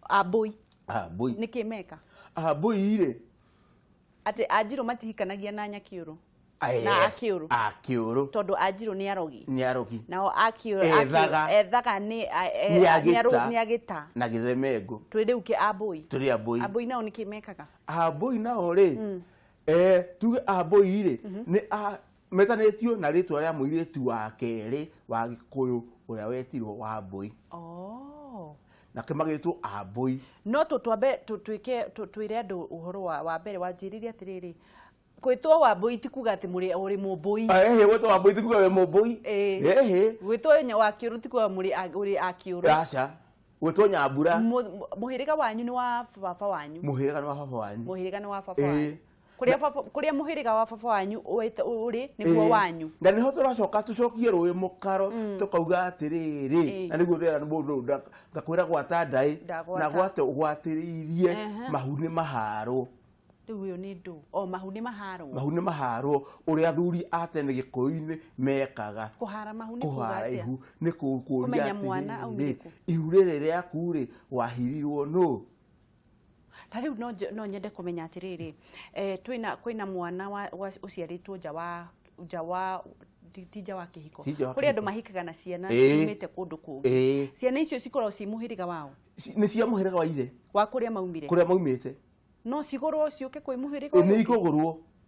a mbũi Ah, mbũi nĩ kĩ meka Ah, mbũi rĩ atĩ anjirũ matihikanagia na nyakiũrũ Yes. na akĩũrũ akĩũrũ tondũ anjirũ nĩ arogi nĩ arogi nao akĩũrũ Ethaga. akĩũrũ- ethaga nĩ a- e- Nĩ a- agĩta. nĩ arũ- nĩ agĩta na gĩthemengo twĩ rĩu kĩ ambũi tũrĩ ambũi ambũi nao nĩ kĩ mekaga ambũi nao rĩ eh, tuge ambũi rĩ nĩ a- metanĩtio na rĩtwa rĩa mũirĩtu wa kerĩ wa gĩkũyũ ũrĩa wetirwo wa mbũi oh. nake magĩtwo ambũi no tũ twambe tũ- twĩke tũ- twĩre andũ ũhoro wa wa mbere wanjĩrire atĩrĩrĩ gwĩtwo wa mbũi ti kuga atĩ mũrĩ ũrĩ mũmbũi ehe gwĩtwo wa mbũi tikuga we mũmbũi Ĩĩ. ehe gwĩtwo nya- wa kĩũrũ ti kuga mũrĩ a- ũrĩ a kĩũrũ raca gwĩtwo nyambura Mũ- mũ- mũhĩrĩga wanyu nĩ wa baba wanyu mũhĩrĩga nĩ wa baba wanyu mũhĩrĩga nĩ wa baba Ĩĩ. wanyu kũrĩa baba- kũrĩa mũhĩrĩga wa baba wanyu ũwĩte- ũrĩ nĩguo Ĩĩ. wanyu na nĩho tũracoka tũcokie rũĩ mũkaro tũkauga atĩrĩrĩ Ĩĩ. na nĩguo ndĩra mũndũ nda- ngakwĩra gwata ndaĩ Ndagwata. na gwate ũgwatĩrĩirie Ehe. mahuni maharwo rĩu ũyũ nĩ ndũ o mahuni maharwo mahuni maharwo ũrĩa athuri a tene gĩkũyũ-inĩ mekaga kũhara mahuni kuga kũhara atĩa ihu nĩ kũ- kũria Kũmenya mwana atĩrĩrĩ aumĩte kũ. ihu rĩrĩ rĩaku-rĩ wahirirwo nũ Ta rĩu no nje- no nyende kũmenya atĩrĩrĩ eh, twĩna kwĩna mwana wa- wa- ũciarĩtwo nja wa nja wa ti ti nja wa kĩhiko Ti nja wa kũrĩ andũ kĩhiko. mahikaga na ciana Ĩĩ. imĩte kũndũ kũngĩ Ĩĩ. ciana icio cikoragwo ci mũhĩrĩga wao Ci- nĩ cia mũhĩrĩga wa ithe wa kũrĩa maumire kũrĩa maumĩte no cigũrwo ciũke kwĩ mũhĩrĩga ũyũ nĩ ũngĩ? ikũgũrwo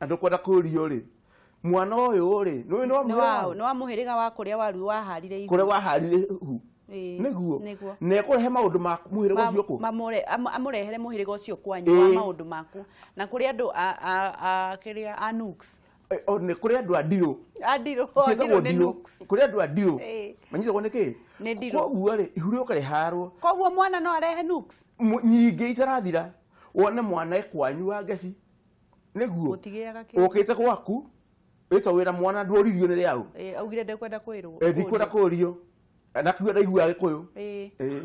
andå kwenda kå rio rä mwana å yå rä nä nä waũ nĩ wa mũhĩrĩga wa kũrĩa waru waharire ihu kå rĩa waharire hu Ĩĩ, nĩguo nĩguo na ekũrehe maũndũ ma mũhĩrĩga Ma- ũcio kũ mamũre- am- amũrehere mũhĩrĩga ũcio kwanyu wa Ĩĩ. maũndũ maku na kũrĩ andũ a- a- a- kĩrĩa a Nooks. Eh, o, nĩ kũrĩ andũ a ndirũ A ndirũ o, ndirũ ciĩtagwo nĩ ndirũ Nooks. kũrĩ andũ a ndirũ Ĩĩ. manyitagwo nĩ kĩ Nĩ ndirũ. koguo rĩ ihu rĩũka rĩharwo koguo mwana no arehe Nooks? mu- nyingĩ itarathira wone mwana ekwanyu wa ngeci nĩguo Mũtigĩaga kĩndũ. ũkĩte gwaku wĩtwo wĩra mwana ndworirio nĩ rĩaũ Eh, augire ndekwenda kwĩrwo Eh, ndikwenda kũrio nakiuga ndaiguaga gĩkũyũ Eh, Eh.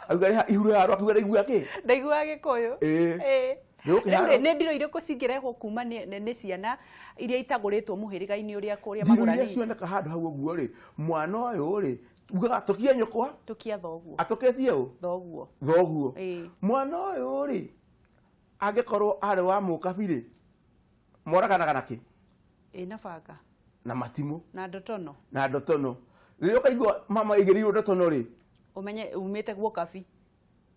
auga rĩha ihuru harwa akiuga ndaiguaga kĩ ndaiguaga gĩkũyũ Eh. Eh. Nĩ ũkĩharwo? Rĩu nĩ ndiro irĩkũ cingĩrehwo kuma nĩ nĩ- nĩ ciana iria itagũrĩtwo mũhĩrĩga-inĩ ũrĩa kũrĩa ndiro iria magũranĩte cioneka handũ hau ũguo rĩ mwana ũyũ rĩ ugaga atũkie nyũkwa tũkia thoguo atũketie ũ thoguo thoguo Ĩĩ. mwana ũyũ rĩ angĩkorwo arĩ wa mũkabirĩ moraganaga na kĩ ĩ na banga na matimũ na ndotono na ndotono rĩrĩa ũkaigua mama aigĩrĩirwo ndotono rĩ ũmenye umĩte guo kabi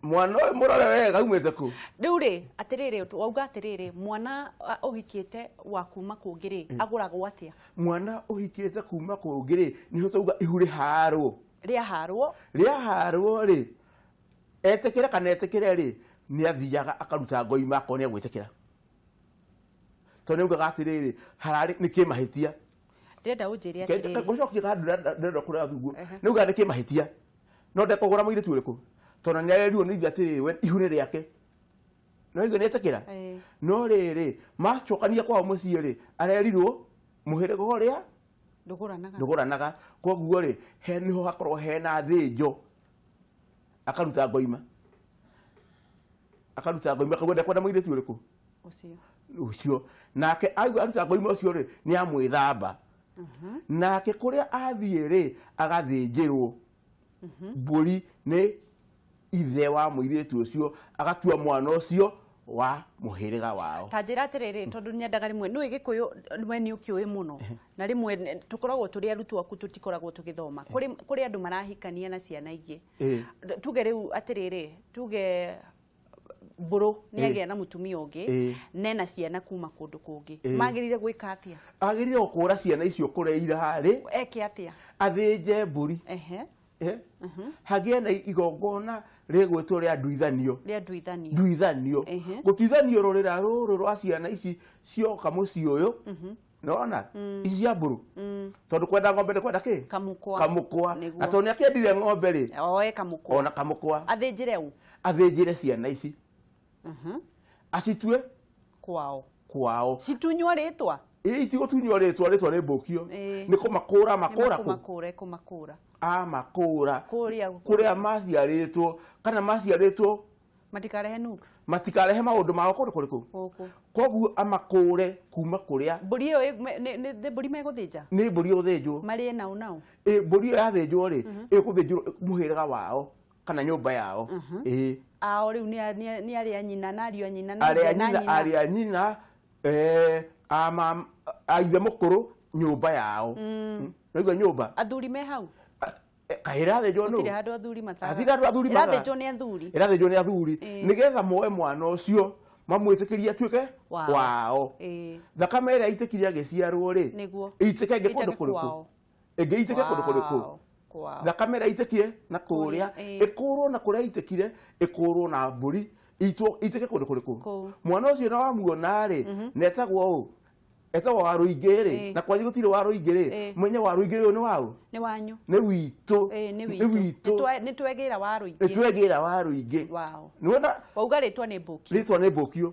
mwana ũyũ mũrore wega aumĩte kũ rĩu rĩ atĩrĩrĩ ũtũ- wauga atĩrĩrĩ mwana a, ũhikĩte wa kuma kũngĩ rĩ agũragwo atĩa mwana ũhikĩte kuma kũngĩ rĩ nĩho twauga ihu rĩharwo rĩaharwo rĩaharwo rĩ Etĩkĩre kana etĩkĩre rĩ, nĩ athiaga akaruta ngoima akorwo nĩ egwĩtĩkĩra. Tondũ nĩ augaga atĩrĩrĩ, hararĩ nĩ kĩmahĩtia. Ndĩrenda ũnjĩre atĩrĩrĩ. Gũcokia ga ndĩrenda kũrĩa thuguo. Nĩ augaga nĩ kĩmahĩtia. No ndekũgũra mũirĩtu ũrĩkũ. Tondũ nĩ arerirwo nĩ ithe atĩrĩrĩ we ihu nĩ rĩake. Nĩ waigua nĩ etĩkĩra? No rĩrĩ, macokania kwao mũciĩ rĩ, arerirwo mũhĩrĩga ũrĩa ndũgũranaga. Koguo rĩ, nĩho hakoragwo hena thĩnjo. akaruta ngoima akaruta ngoima akauga ndakwenda mũirĩtu ũrĩkũ Ũcio. ũcio nake aigua aruta ngoima ũcio rĩ nĩ amwĩthamba nake kũrĩa athiĩ rĩ agathĩnjĩrwo mbũri nĩ ithe wa mũirĩtu ũcio agatua mwana ũcio wa muhiriga wao ta njira atiriri tondu nyendaga rimwe nui gikuyu we ni ukiui muno na rimwe tukoragwo turi arutwo aku tutikoragwo tugithoma kuri kuri andu marahikania na ciana ingi tuge riu atiriri tuge mburu ni agia na mutumia ungi ne na ciana kuma kundu kungi magirire gwika atia agirire gukura ciana icio kureira ri eke atia athinje mburi ehe eh, hagĩe na igongona rĩgwĩtwo rĩa nduithanio rĩa nduithanio nduithanio Ehe. gũtuithanio rũrĩra rũrũ rwa ciana ici cioka mũciĩ ũyũ nona ici cia mbũrũ tondũ kwenda ng'ombe nĩ kwenda kĩ kamũkwa kamũkwa Nĩguo. na tondũ nĩ akĩendire ng'ombe rĩ oe kamũkwa ona kamũkwa athĩnjĩre ũ athĩnjĩre ciana ici acitue kwao kwao situnywa rĩtwa Ĩ, itigo tunyua rĩtwa rĩtwa nĩ mbũkio Ĩ. nĩ kũmakũra makũra kũ kũmakũra kũmakũra a makũra kũrĩa kũrĩa maciarĩtwo kana maciarĩtwo matikarehe nukes matikarehe maũndũ mao kũndũ kũrĩ kũu gũkũ koguo amakũre kuma kũrĩa mbũri ĩyo ĩ- me- nĩ- nĩ- nĩ mbũri megũthĩnja nĩ mbũri ĩgũthĩnjwo marĩ nau nau Ĩ, mbũri ĩyo yathĩnjwo rĩ ĩgũthĩnjwo mũhĩrĩga wao kana nyũmba yao Mhm. ĩĩ ao rĩu nĩ a- nĩ a- nĩ arĩ a nyina na ariũ a nyina na arĩa ithe na nyina arĩa nyina eh, a mam- a ithe mũkũrũ nyũmba yao Mm. naigua nyũmba athuri me hau kahĩrathĩnjwo gũtirĩ nũ handũ athuri mataga Athira andũ athuri mataga. ĩrathĩnjwo nĩ athuri ĩrathĩnjwo nĩ athuri Ĩĩ. nĩgetha moe mwana ũcio mamwĩtĩkĩrie atuĩke Wao. wao Ĩĩ, thakame ĩrĩa aitĩkire agĩciarwo rĩ nĩguo ĩitĩke ĩngĩ kũndũ Ĩitĩke kũrĩkũ kwao. ĩngĩ ĩitĩke kũndũ kũrĩkũ Wow. Wow. thakame ĩrĩa ĩitĩkie na kũrĩa Kũrĩa, ĩĩ. ĩkũrwo na kũrĩa ĩitĩkire ĩkũrwo na mbũri ĩitwo- ĩitĩke kũndũ kũrĩkũ Kũu. mwana ũcio na wamuona rĩ na etagwo ũũ etagwo wa rũingĩ rĩ Ĩĩ. na kwanyu gũtirĩ wa rũingĩ rĩ Ĩĩ. menye wa rũingĩ rĩ ũyũ nĩ waũ nĩ wanyu nĩ witũ Ĩĩ, nĩ witũ witũ Nĩtwe- nĩtwegĩra wa rũingĩ nĩtwegĩra wa rũingĩ wow. nĩwona wauga rĩtwa nĩ mbũki rĩtwa nĩ mbũkiũ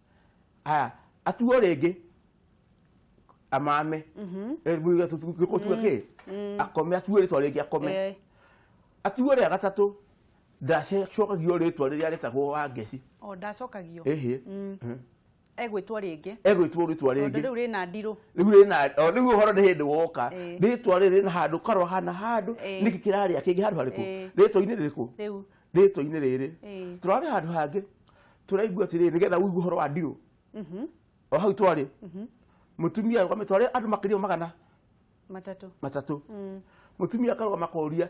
haya atuo rĩngĩ amame gĩkũtua kĩ akome atuo rĩtwa rĩngĩ akome Eh, atuo rĩa gatatũ ndacokagio rĩtwa rĩrĩa rĩtagwo wa ngeci o ndacokagio ĩhĩ egwĩtwo rĩngĩ egwĩtwo rĩtwa tondũ rĩngĩ rĩu rĩna ndirũ rĩu rĩna o, rĩu ũhoro nĩ hĩndĩ woka Ĩĩ. rĩtwa rĩrĩ rĩna handũ karwa hana handũ Ĩĩ. nĩkĩ kĩrarĩa kĩngĩ handũ harĩkũ Ĩĩ. rĩtwa-inĩ rĩrĩkũ rĩu rĩtwa-inĩ rĩrĩ Ĩĩ. tũrarĩ handũ hangĩ turaigua atĩrĩrĩ nĩgetha ũigue ũhoro wa ndirũ Mhm. o hau twarĩ mũtumia arũgamĩte twarĩ andũ makĩria ma magana Matatũ. matatũ Mm. mũtumia akarũgama koria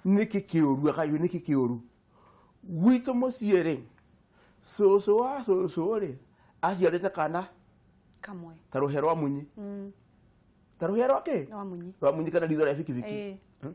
nĩkĩ kĩũru akaigua nĩkĩ kĩũru gwitũ mũciĩ rĩ cũcũ wa cũcũ rĩ aciarĩte kana Kamwe. ta rũhĩa rwa munyi Mm. ta rũhĩa rwa kĩ Nĩ wa munyi. rwa munyi kana ritho rĩa bikibiki Eh. Hmm?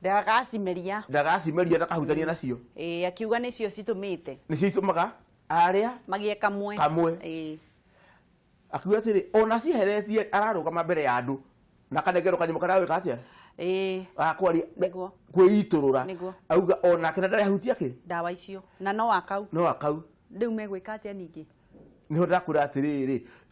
ndagacimeria ndagacimeria ndakahutania nacio ĩĩ akiuga nĩcio citũmĩte nĩcio itũmaga arĩa magĩe kamwe Kamwe. ĩĩ akiuga atĩrĩ ona ciheretie ararũgama mbere ya andũ na kanengerwo kanyamũ karĩa wĩka atĩa ĩĩ gakwaria Nĩguo. kwĩitũrũra Nĩguo. auga onake na ndarĩ ahutia kĩ ndawa icio na no akau no akau rĩu megwĩka atĩa ningĩ nĩho ndakwĩra atĩrĩrĩ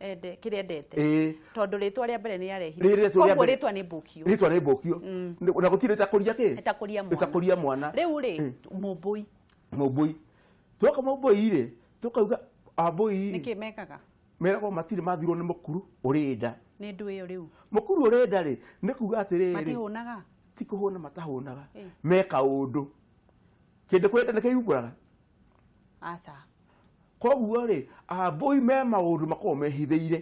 ende kĩrĩa endete ĩĩ tondũ rĩtwa rĩa mbere nĩ Rĩrĩa yarehire rĩtwa rĩa koguo mbere- rĩtwa nĩ mbũkio rĩtwa nĩ mbũkio na gũtirĩ rĩtakũria kĩ ĩtakũria mwana rĩtakũria mwana rĩu rĩ mũmbũi mũmbũi twoka mũmbũi rĩ tũkauga ambũi nĩkĩ mekaga meragwo matirĩ mathirwo nĩ mũkuru ũrĩ nda nĩ ndũ ĩyo rĩu mũkuru ũrĩ nda rĩ nĩ kuga atĩrĩrĩ matihũnaga ti kũhũna matahũnaga Eh. meka ũndũ kĩndũ kwenda nĩ kĩyumbũraga aca koguo rĩ ambũi me maũndũ makoragwo mehithĩire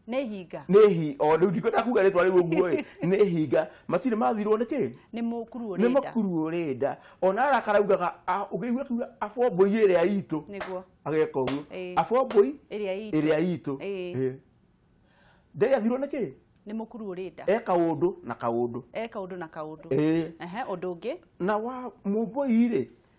nĩ hinga nĩ hi o rĩu ndikwenda kuga rĩtwa rĩu ũguo ĩ nĩ hinga matirĩ mathirwo nĩ kĩ nĩ mũkuru nĩ ũrĩnda makuru ũrĩnda ona arakara ugaga a- ũngĩigua kuga abombũi ĩrĩa itũ nĩguo ageka ũguo Ĩĩ. abombũi ĩrĩa itũ ĩrĩa itũ Ĩĩ. Ĩĩ. ndege athirwo nĩ kĩ nĩ mũkuru ũrĩnda e kaũndũ na kaũndũ e kaũndũ na kaũndũ Ĩĩ. ehe ũndũ ũngĩ na wa mũmbũi rĩ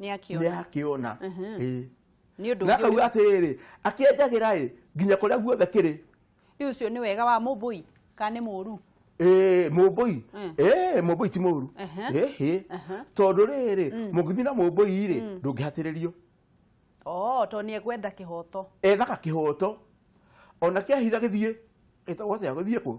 nĩ akĩona akĩona ĩ nĩ ũndũ na ũngĩ akauga atĩrĩrĩ akĩenjagĩra ĩ nginya kũrĩa guothe kĩrĩ rĩu ũcio nĩ wega wa mũmbũi kana nĩ mũru Ĩĩ, mũmbũi Mm. Ĩĩ, mũmbũi ti mũru Aha. Ĩhĩ. Aha. tondũ rĩrĩ mũngĩthiĩ na mũmbũi rĩ ndũngĩhatĩrĩrio oo tondũ nĩ egwetha kĩhoto ethaga kĩhoto ona kĩahitha gĩthiĩ gĩtagwo atĩa gĩthiĩ kũ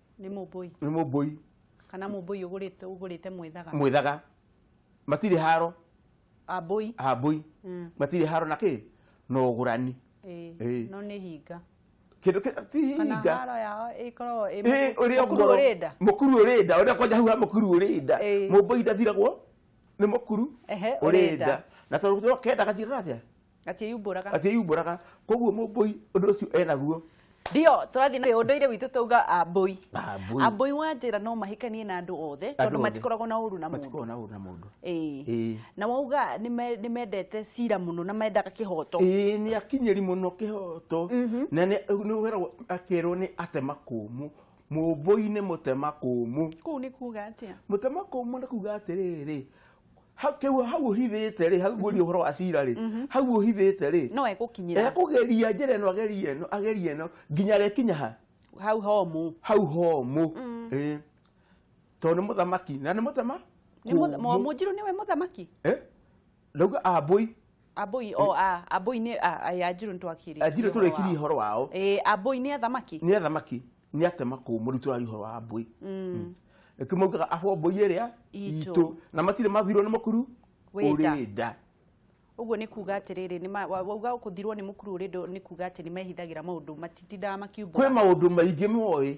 nĩ mũmbũi nĩ mũmbũi kana mũmbũi ũgũrĩte ũgũrĩte mwĩthaga mwĩthaga matirĩ haro ambũi ambũi Mm. matirĩ haro na kĩ na ũgũrani ĩĩ, Ĩĩ. no nĩ hinga kĩndũ kĩ- ti kana hinga haro yao ĩkoragwo ĩ Ĩĩ, mũkuru- ũrĩa mũkuru ngoro- ũrĩ nda mũkuru ũrĩ nda ũrĩa kwanja hau ha mũkuru ũrĩ nda Ĩĩ. mũmbũi ndathiragwo nĩ mũkuru Ehe, ũrĩ ũrĩ nda. nda na tondũ kenda gathiĩ gatia atiĩyumbũraga atiĩyumbũraga koguo mũmbũi ũndũ ũcio enaguo ndio tũrathiĩ na ũndũire witũ tauga ambũi Ah, mbũi. ambũi wa njĩra no mahikanie na andũ othe Andũ tondũ othe. matikoragwo na ũru na mũndũ matikoragwo na ũru na mũndũ Ĩĩ. Ĩĩ. na wauga nĩ me- nĩ mendete cira mũno na mendaga kĩhoto ĩĩ nĩ akinyĩri mũno kĩhoto na nĩ nĩ ũgeragwo akerwo nĩ atema kũmũ mũmbũi nĩ mũtema kũmũ kũu nĩ kuga atĩa mũtema kũmũ nĩ kuga atĩrĩrĩ hau kĩu hau ũhithĩte rĩ hau ngũria ũhoro wa cira rĩ hau ũhithĩte rĩ no egũkinyĩra ekũgeria njĩra ĩno ageria ĩno ageria ĩno nginya rĩkinya ha hau homũ hau homũ ĩ tondũ nĩ mũthamaki na nĩ mũtama Nĩ mũtha- Mo- mũnjirũ nĩwe mũthamaki Eh? ndauga ambũi Ambũi o a Ambũi nĩ a- a- ya Njirũ nĩtwakĩrĩtie anjirũ ũhoro tũrĩkirie wao. ũhoro wao Ĩĩ, Ambũi nĩ athamaki nĩ athamaki nĩ atema kũmũ rĩu tũraria ũhoro wa mbũi nĩkĩo maugaga abo mbũi ĩrĩa Itũ. itũ na matirĩ mathirwo nĩ mũkuru Wĩ nda. ũrĩ nda ũguo nĩ kuga atĩrĩrĩ nĩ ma- wa- wauga kũthirwo nĩ mũkuru ũrĩ ndũ nĩ kuga atĩ nĩ mehithagĩra maũndũ matitindaga kwĩ makiumbũra maũndũ maingĩ moĩ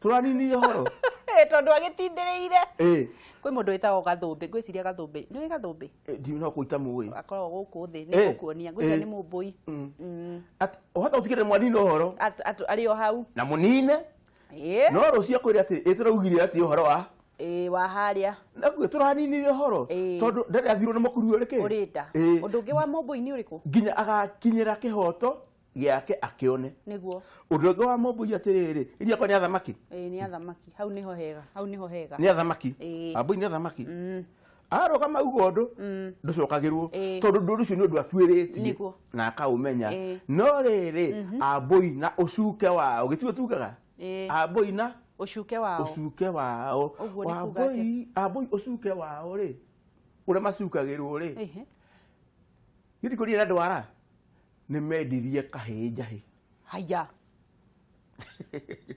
tũraninie horo Eh, tondũ agĩtindĩrĩire Eh, kwĩ mũndũ wĩtagwo gathũmbĩ ngwĩciria gathũmbĩ nĩ ũĩ gathũmbĩ eh, ndiũĩ no kũita mũĩ akoragwo gũkũ thĩ Eh, nĩ gũkuonia ngwĩciria eh. nĩ mũmbũi Mm. Mm. At- ohata ũtigĩre mwanine ũhoro At- at- arĩ o hau na mũnine Ĩĩ. no rũcio kwĩre atĩ ĩ tũraugire atĩ ũhoro wa Ĩĩ, wa harĩa naguo tũraninire ũhoro Ĩĩ. tondũ ndarĩ athirwo nĩ mũkuru ũrĩ kĩ ũrĩ nda Ĩĩ. ũndũ ũngĩ wa mũmbũi nĩ ũrĩkũ nginya agakinyĩra kĩhoto gĩake akĩone nĩguo ũndũ ũngĩ wa mũmbũi atĩrĩrĩ iria kwa nĩ athamaki ĩĩ nĩ athamaki hau nĩho hega hau nĩho hega nĩ athamaki Ĩĩ. ambũi nĩ athamaki Mm, arũgama uguo ũndũ mm, ndũcokagĩrwo Ĩĩ. tondũ ndũndũ ũcio nĩ ũndũ atuĩrĩtie Nĩguo. na akaũmenya Ĩĩ. no rĩrĩ ambũi na ũcuke wao gĩtigo tugaga Ĩĩ. ambũi na ũcuke wao ũcuke wao Ũguo nĩ kuga ambũi ambũi ũcuke wao rĩ ũrĩa macukagĩrwo rĩ Ĩhĩ. githikũria na ndwara nĩ mendirie kahĩĩ njahĩ haya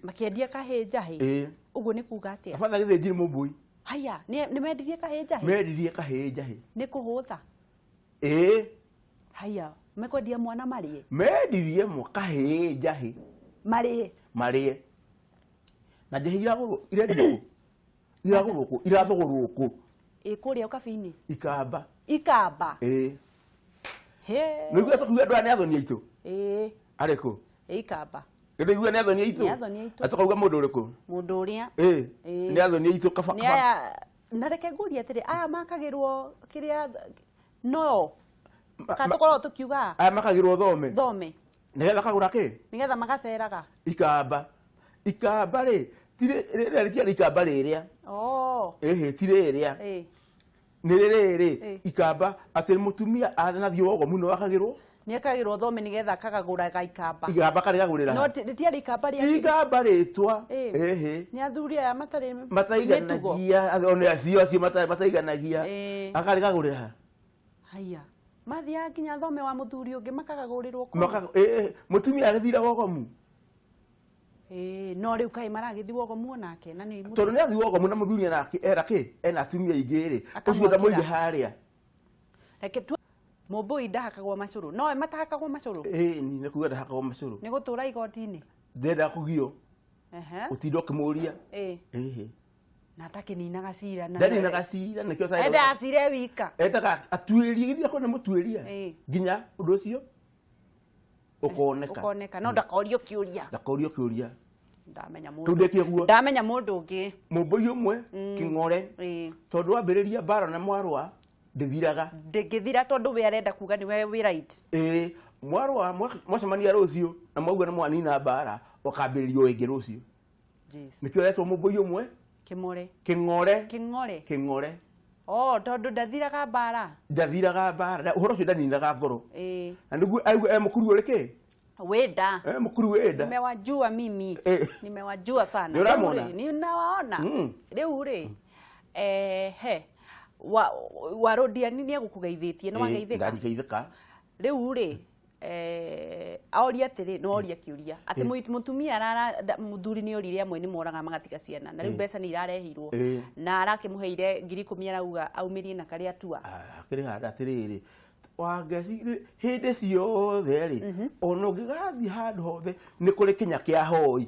makĩendia kahĩĩ njahĩ ĩĩ ũguo nĩ kuga atĩa abana gĩthĩnji nĩ mũmbũi haya nĩ nĩ mendirie kahĩĩ njahĩ mendirie kahĩĩ njahĩ nĩ kũhũtha ĩĩ haya mekwendia mwana marĩe mendirie mwa kahĩĩ njahĩ marĩe marĩe na njahĩ iragũrwo irendio iragũrwo kũ irathũgũrwo kũ ĩ kũrĩa ũkabi-inĩ ikamba ikamba ĩĩ Hĩ. nĩguo tũkiuga andũ aya nĩ athoni aitũ ĩĩ arĩ kũ ĩ ikamba nĩguo nĩ athoni aitũ Nĩ athoni aitũ. atakauga mũndũ ũrĩkũ mũndũ ũrĩa ĩĩ Ĩĩ. nĩ athoni aitũ kaba nĩ kaba aya na reke ngũrie atĩrĩ aya makagĩrwo kĩrĩa no Ma- kana ma- tũkoragwo tũkiuga aya makagĩrwo thome thome nĩgetha kagũra kĩ nĩgetha magaceraga ikamba ikamba rĩ ti rĩ- rĩrĩa rĩtiarĩ ikamba rĩrĩa oh ĩhĩ ti rĩrĩa eh nĩ rĩrĩrĩ Eh. ikamba atĩ mũtumia athana thiĩ wogo mũno wakagĩrwo nĩekagĩrwo thome nĩgetha akagagũra gaikamba ikamba karĩ gagũrĩra no ti- rĩtiarĩ ikamba rĩa ikamba rĩtwa Eh. ĩhĩ nĩ athuri aya matarĩ mĩtugo mataiganagia one acio acio mata- mataiganagia Eh. akarĩ gagũrĩra Haiya. Mathiaga nginya thome wa mũthuri ũngĩ makagagũrĩrwo kũu. Maka, ĩ, ĩ, mũtumia agĩthira wogomu Ĩĩ, no rĩu kaĩ maragĩthi wogomu onake na nĩ tondũ nĩ athi wogomu na mũthuri ena ki- era kĩ ena atumia aingĩ rĩ ũcio Akamwakĩra. ndamũige harĩa reke tu mũmbũi ndahakagwo macũrũ nowe matahakagwo macũrũ ĩ ni nĩ kuga ndahakagwo macũrũ nĩ gũtũra igoti-inĩ ndendaga kũgio Ehe. ũtinda ũkĩmũria Ĩĩ. ĩhĩ na atakĩninaga cira na- ndaninaga cira nĩkĩo Cyrus- endaga cira e wika endaga atuĩrie githĩ akorwo nĩ mũtuĩria Ĩĩ. nginya ũndũ ũcio ũkoneka ũkoneka no ndakorio kĩũria ndakorio kĩũria ndamenya kĩu mũndũ ndĩkĩ ũguo ndamenya mũndũ ũngĩ mũmbũi ũmwe kĩng'ore Ĩĩ. tondũ wambĩrĩria mbara na mwarwa ndĩthiraga ndĩngĩthira tondũ we arenda kuga nĩ we wĩ right ĩĩ mwarwa mwa- mwacemania rũciũ na mwauga nĩ mwanina mbara ũkambĩrĩria o ĩngĩ rũciũ nĩkĩo retwo mũmbũi ũmwe kĩmore kĩng'ore kĩng'ore kĩng'ore Oh, tondu ndathiraga mbara ndathiraga mbara uhoro ucio ndaninaga ngoro eh. na niguo aigua e mukuru uri ki wenda e mukuru wenda nimewajua mimi eh. nimewajua sana niramona ninawaona mm. riu ri eh he wa warodia ni ni egukugeithitie ni wageithika mm, ndarikeithika riu ri eh, aoria atirĩ no oria kiuria ati mu- mutumia arara nda- muthuri ni orire amwe ni moraga magatiga ciana na riu mbeca ni irarehirwo Eh. na arakimuheire ngiri ikumi arauga aumirie na karia atua akĩrĩ handa atĩrĩrĩ wangeci hĩndĩ ciothe rĩ ona ũngĩgathiĩ handũ hothe nĩ kũrĩ kinya kĩa hoi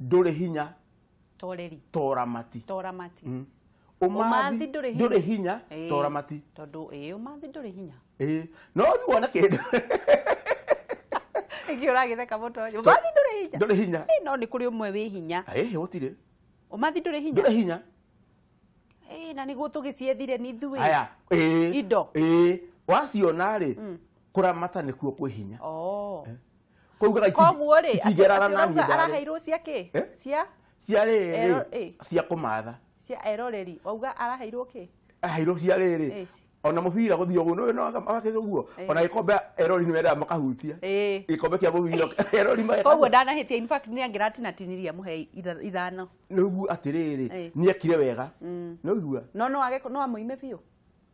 ndũrĩ hinya toreri toramati toramati mm. umathi ndũrĩ hinya toramati tondũ ĩ umathi ndũrĩ hinya ĩ no rĩu wona kĩndũ ingĩ ũragĩtheka mũtonyo umathi ndũrĩ hinya ndũrĩ hinya ĩ no nĩ kũrĩ ũmwe wĩ hinya ĩ gũtirĩ umathi ndũrĩ hinya ndũrĩ hinya ĩ na nĩguo tũgĩciethire ni ithuĩ aya ĩ indo ĩ waciona rĩ mm. kũramata nĩkuo kwĩ hinya oh. Eh. Kwaugaga iti- koguo rĩ itingĩrara na niĩ ndarĩ. araheirwo cia kä Eh? cia Cia rĩrĩ, Ero- eh. cia kũmatha. cia eroreri wauga araheirwo kä Aheirwo cia rĩrĩ. Ĩci. Ona mũbira gũthiĩ ũguo, nĩũĩ no agakĩga ũguo. Eh. Ona gĩkombe erori nĩwendaga makahutia. ä Gĩkombe kĩa mũbira erori mageka- koguo ndanahä tia nä angä ratinatinyirie amũhe itha- ithano nĩguo atĩrĩrĩ Eh. nĩekire wega Mm. nĩũigua no no age no amå ime biå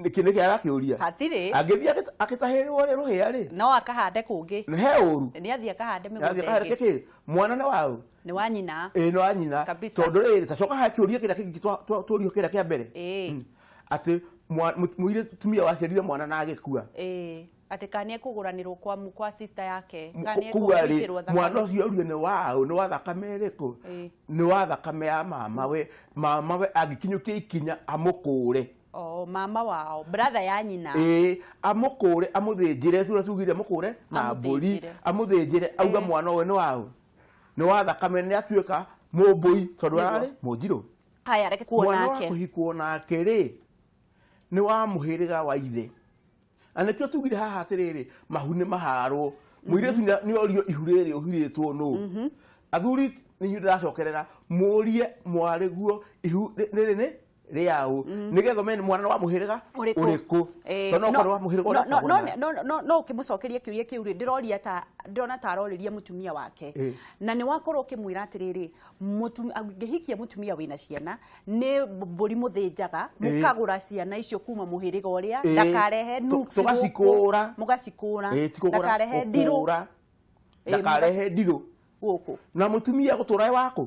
nĩkĩ nĩkĩ arakĩũria hatirĩ angĩthiĩ agĩta- agĩtahĩrĩrwo rĩ rũhĩa rĩ no akahande kũngĩ nĩ he ũru nĩ athiĩ akahande Nĩ athiĩ mĩgũnda akahande ĩngĩ kĩkĩ mwana nĩ waũ nĩ wa nyina ĩĩ no anyina Kabisa. tondũ rĩrĩ tacoka ha kĩũria kĩrĩa kĩngĩ twa- twa- tũũrio kĩrĩa kĩa mbere Ĩĩ. Mm. atĩ mwa- mũ- mũirĩ tumia waciarire mwana na agĩkua Ĩĩ, atĩ kana nĩ ekũgũranĩrwo kwa mu- kwa sister yake kana nĩ kua ekũhingĩrwo rĩ mwana thakame ũcio ũrio nĩ waũ nĩ wa thakame ĩrĩkũ Ĩĩ. nĩ wa thakame ya mama we mama we angĩkinyũkia ikinya amũkũre o mama wao brother ya nyina ĩĩ amũkũre amũthĩnjĩre sura tugire amũkũre na mbũri Amũthĩnjĩre. amũthĩnjĩre auga Ĩĩ. mwana ũyũ nĩ waũ nĩ wa thakame nĩ atuĩka mũmbũi tondũ Nĩguo. ararĩ mũnjirũ haya reke kuo mwana wa nake kũhikwo nake rĩ nĩ wa mũhĩrĩga wa ithe na nĩkĩo tugire haha atĩrĩrĩ mahu nĩ maharwo mũirĩtu nĩ- nĩ orio ihu rĩrĩ ũhirĩtwo nũ athuri nĩ inyuĩ ndĩracokerera mũrie mwarĩguo ihu rĩ- rĩrĩ nĩ rĩaũ mm. nĩgetha ũmenye mwana wa mũhĩrĩga ũrĩkũ eh, tondũ okorwo wa mũhĩrĩga ũrĩkũ no ũkĩmũcokerie kĩũria kĩu rĩ ndĩroria ta ndĩrona ta arorĩria mũtumia wake eh. na nĩ wakorwo ũkĩmwĩra atĩrĩrĩ ngĩhikia mũtumia wĩna ciana nĩ mbũri mũthĩnjaga eh. mũkagũra ciana icio kuma mũhĩrĩga ũrĩa ndakarehe nuksi mũgacikũra mũgacikũra ndakarehe ndirũ ndakarehe ndirũ gũkũ na mũtumia gũtũra wakũ